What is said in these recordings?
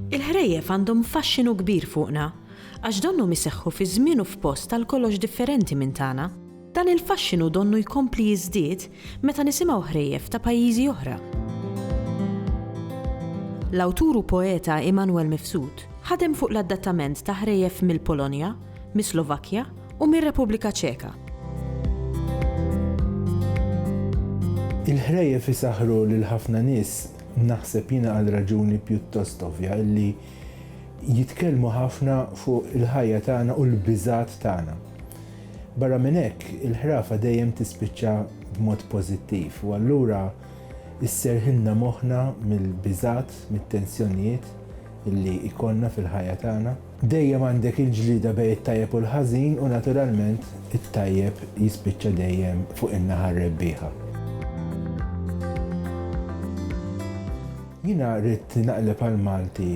Il-ħrejjef għandhom faxxinu kbir fuqna, għax donhom iseħħu fi żmien u f'post għal kollox differenti minn tagħna. Dan il-faxxinu donnu jkompli jiżdied meta nisimgħu ħrejjef ta' pajjiżi oħra. L-awtur u poeta Immanuel Mifsud ħadem fuq l-adattament ta' ħrejjef mill-Polonja, mis-Slovakkja u mir-Repubblika Ċeka. Il-ħrejjef isaħħru lil ħafna nies, naħseb jiena għal raġuni pjuttost ovvja li jitkellmu ħafna fuq il-ħajja tagħna u l-biżgħat tagħna. Barra minn hekk, il-ħrafa dejjem tispiċċa b'mod pożittiv, u allura sserrħilna moħħna mill-biżgħat, mit-tensjonijiet li jkollna fil-ħajja tagħna. Dejjem għandek il-ġlieda bejn it-tajjeb u l-ħażin, u naturalment it-tajjeb jispiċċa dejjem fuq in-naħa r-rebbieħa. Jiena ridt naqleb għall-Malti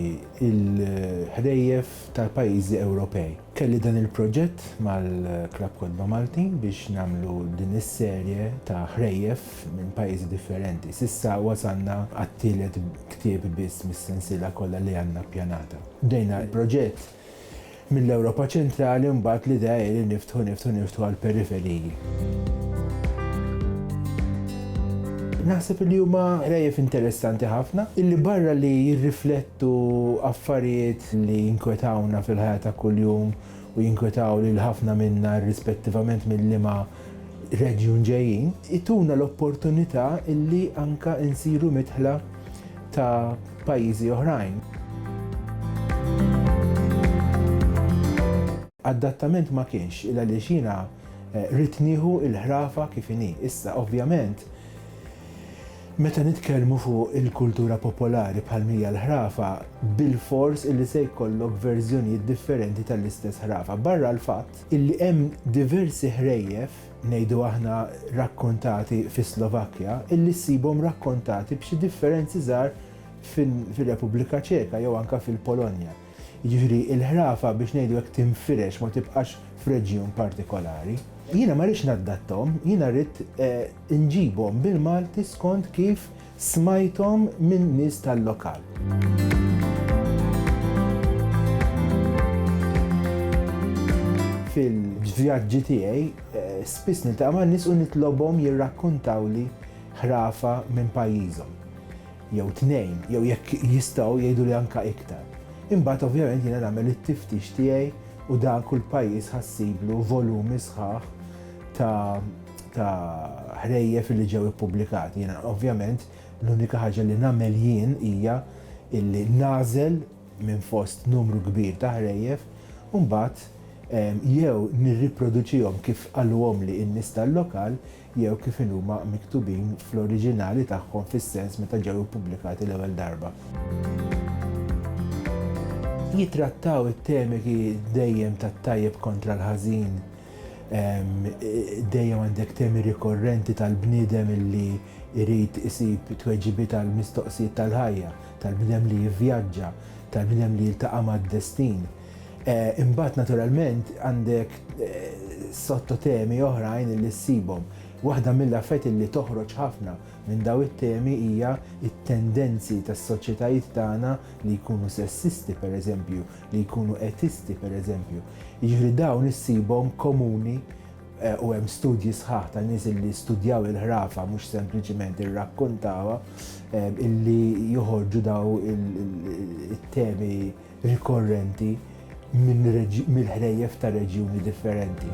l-ħrejjef tal-pajjiżi Ewropej. Kelli dan il-proġett mal-Klabb Kotba Malti biex nagħmlu din is-serje ta' ħrejjef minn pajjiżi differenti. S'issa wasalna għat-tielet ktieb biss mis-sensiela kollha li għandna ppjanata. Bdejna l-proġett mill-Ewropa Ċentrali u mbagħad l-idea hi li niftħu, niftħu, niftħu għall-periferiji. Naħseb li huma ħrejjef interessanti ħafna li barra li jirriflettu Tu affarijiet li jinkwetawna fil-ħajja ta' kuljum u jinkwetaw lil ħafna minna irrispettivament minn liema reġjun ġejjin, ituna l-opportunità li anke insiru midħla ta' pajjiżi oħrajn. Adattament ma kienx, il għaliex jiena ridt nieħu l-ħrafa kif inhi. Issa, ovvjament, Meta nitkellmu fuq il-kultura popolari bħal mija l-ħrafa, bilfors illi se jkollok verżjonijiet differenti tal-istess ħrafa, barra l-fatt illi hemm diversi ħrejjef, ngħidu aħna rakkontati fis-Slovakkja, illi ssibhom rakkontati b'xi differenzi żgħar fir-Repubblika Ċeka jew anke fil-Polonja. Jiġifieri l-ħrafa biex ngħidu hekk tinfirex ma tibqax f'reġjun partikolari. Jiena ma rridx naddattahom, jiena rrid, Inġibhom bil-Malti skont kif smajthom minn nies tal-lokal. Fil-vjaġġi tiegħi spiss niltaqa' ma' nies u nitlobhom jirrakkuntawli ħrafa minn pajjiżhom. Jew tnejn, jew jekk jistgħu jgħiduli anke iktar. Imbagħad ovvjament jiena nagħmel it-tiftix tiegħi u dak kull pajjiż ħa ssiblu volumi sħaħ ta' ta' ħrejjef illi ġew ippubblikati. Jiena ovvjament l-unika ħaġa li nagħmel jien hija illi nagħżel minn fost numru kbir ta' ħrejjef u mbagħad jew nirriproduċihom kif qaluhomli n-nies tal-lokal jew kif inhuma miktubin fl-oriġinali tagħhom fis-sens meta ġew ippubblikati l-ewwel darba. Jittrattaw it-temi dejjem tat-tajjeb kontra l-ħażin, Dejjem għandek temi rikorrenti tal-bniedem illi jrid isib tweġibiet għall-mistoqsijiet tal-ħajja, tal-bniedem li jivvjaġġa, tal-bniedem li jiltaqa' mad-destin. Imbagħad naturalment għandek sottotemi oħrajn illi ssibhom. Waħda mill-affarijiet illi toħroġ ħafna minn dawn it-temi hija t-tendenzi tas-soċjetajiet tagħna li jkunu sessisti, pereżempju, li jkunu etisti pereżempju. Jiġifieri dawn issibhom komuni Eh, u hemm studji sħaħ ta' nies li studjaw il-ħrafa mhux sempliċiment irrakkontawha eh, illi joħorġu daw il-temi rikorrenti mill-ħrejjef ta' reġjuni differenti.